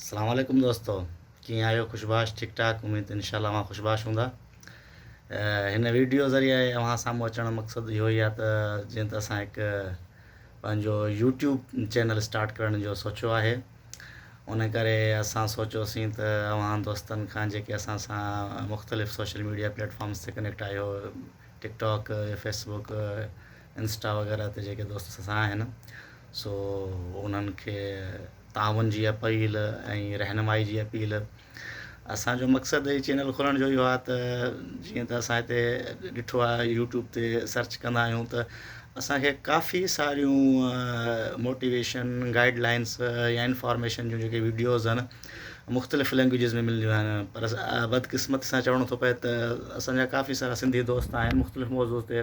اسلام عليڪم دوستو ڪيئن آهيو خوشباش ٺيڪ ٺاڪ اميد انشاء الله اوهان خوشباش هوندا هن ويڊيو ذريعي اوهان سامهون اچڻ جو مقصد اهو ئي آهي ته جيئن ته اسان هڪ پنهنجو يوٽيوب چينل اسٽارٽ ڪرڻ جو سوچيو آهي ان ڪري اسان سوچيوسين ته اوهان دوستن کان جيڪي اسان سان مختلف سوشل ميڊيا پليٽفارمس تي ڪنيڪٽ آهيو ٽڪ ٽاڪ فيسبوڪ انسٽا وغيره تي جيڪي دوست اسان سان آهن سو انهن کي تعاون جي اپيل ۽ رهنمائي جي اپيل اسانجو مقصد هي چينل کولڻ جو اهو آهي ته جيئن ته اسان هتي ڏٺو آهي يوٽيوب تي سرچ ڪندا آهيون ته اسانکي ڪافي ساريون موٽيويشن گائيڊ لائنس يا انفارميشن جون جيڪي ويڊيوز آهن مختلف لينگويجز ۾ ملنديون آهن پر بدقسمت سان چوڻو ٿو پئي ته اسانجا ڪافي سارا سنڌي دوست آهن مختلف موضوع تي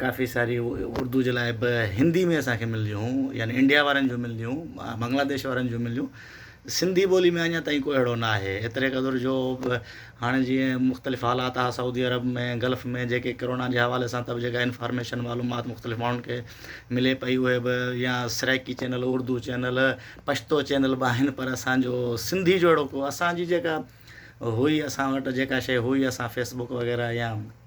ڪافي ساري اردو جي لاء به هندي ۾ اسان کي ملنديون هيون يعني انڊيا وارن جون ملنديون بنگلاديش وارن جون ملنديون سنڌي ٻولي ۾ اڃا تائين ڪو اهڙو نه آهي ايتري قدر جو هاڻي جيئن مختلف حالات آ سعودي عرب ۾ گلف ۾ جيڪي ڪرونا جي حوالي سان تب جيڪا انفارميشن معلومات مختلف ماڻهن کي ملي پئي اهي به يا Saraiki channel Urdu channel Pashto channel به آهن پر اسانجو سنڌي جو اهڙو ڪو اسانجي جيڪا هئي اسان وٽ جيڪا شيء هئي اسان فيسبوڪ وغيره يا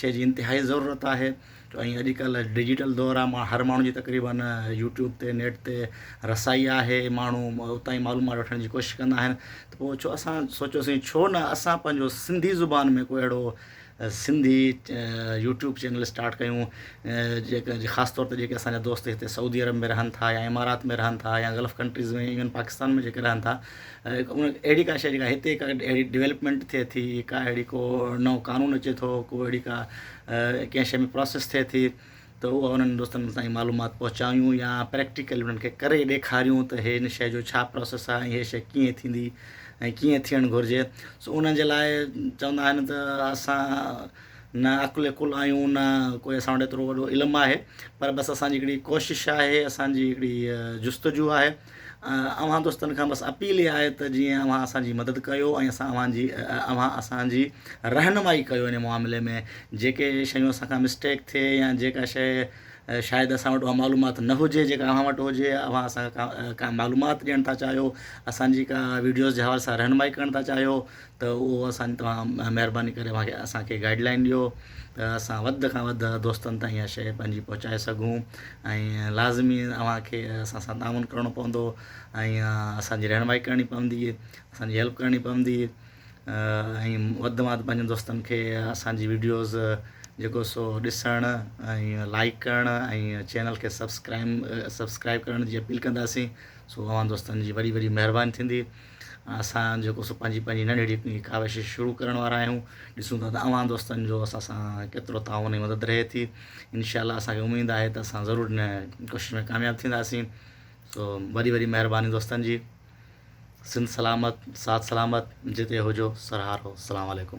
شيء جي انتهائي ضرورت آهي ۽ اڄڪلهه ڊجيٽل دور آهي ماڻهو هر ماڻهو جي تقريبن يوٽيوب تي نيٽ تي رسائي آهي ماڻهو اتان ئي معلومات وٺڻ جي ڪوشش ڪندا آهن ته پوء ڇو اسان سوچيوسين ڇو نه اسان پنهنجو سنڌي زبان ۾ ڪو اهڙو سنڌي يوٽيوب چينل اسٽارٽ ڪيون جيڪا جي خاص طور تي جيڪي اسان جا دوست هتي سعودي عرب ۾ رهن ٿا يا امارات ۾ رهن ٿا يا گلف ڪنٽريز ۾ ايون پاڪستان ۾ جيڪي رهن ٿا اهڙي ڪا شيء جيڪا هتي ڪا اهڙي ڊولپمينٽ ٿئي ٿي ڪا اهڙي ڪو نئون قانون اچي ٿو ڪو اهڙي ڪا ڪنهن شيء ۾ پروسيس ٿئي ٿي ته اهو انهن دوستن تائين معلومات پهچايون يا پريڪٽيڪل انهن کي ڪري ڏيکاريون ته هي ان شيء جو ڇا پروسيس آهي ۽ هي شيء ڪيئن ٿيندي ۽ ڪيئن ٿيڻ گهرجي سو انهن جي لاء چوندا آهن ته اسان نه عقل ڪل آهيون نه ڪوئي اسان وٽ ايترو وڏو علم آهي پر بس اسان جي هڪڙي ڪوشش آهي اسان جي هڪڙي جستجو آهي اوهان دوستن کان بس اپيل اها آهي ته جيئن اوهان اسان جي مدد ڪيو ۽ اسان اوهان جي اوهان اسان جي رهنمائي ڪيو ان معاملي ۾ جيڪي شيون اسان کان مسٽيڪ ٿئي يا جيڪا شيء شايد اسان وٽ اها معلومات نه هجي جيڪا اوهان وٽ هجي يا اوهان اسان کان ڪا معلومات ڏيڻ ٿا چاهيو اسان جي ڪا وڊيوز جي حوالي سان رهنمائي ڪرڻ ٿا چاهيو ته اهو اسان توهان مهرباني ڪري اوهان کي اسان کي گائيڊ لائين ڏيو ته اسان وڌ کان وڌ دوستن تائين اها شيء پنهنجي پهچائي سگهون ۽ لازمي اوهان کي اسان سان تعاون ڪرڻو پوندو ۽ اسانجي رهنمائي ڪرڻي پوندي اسانجي هيلپ ڪرڻي پوندي ۽ وڌ ماڌ پنهنجن دوستن کي اسانجي ويڊيوز جيڪو سو ڏسڻ ۽ لائيڪ ڪرڻ ۽ چينل کي سبسڪرائيم سبسڪرائيب ڪرڻ جي اپيل ڪنداسين سو اوهان دوستن جي وڏي وڏي مهرباني ٿيندي اسان جيڪو سو پنهنجي پنهنجي ننڍڙي هڪ ڪاوش شروع ڪرڻ وارا آهيون ڏسون ٿا ته اوهان دوستن جو اسان سان ڪيترو تعاون ۽ مدد رهي ٿي انشاء الله اسان کي اميد آهي ته اسان ضرور ان ڪوشش ۾ ڪامياب ٿينداسين سو وڏي وڏي مهرباني دوستن جي سنڌ سلامت ساٿ سلامت جتي هجو سرهارو السلام عليڪم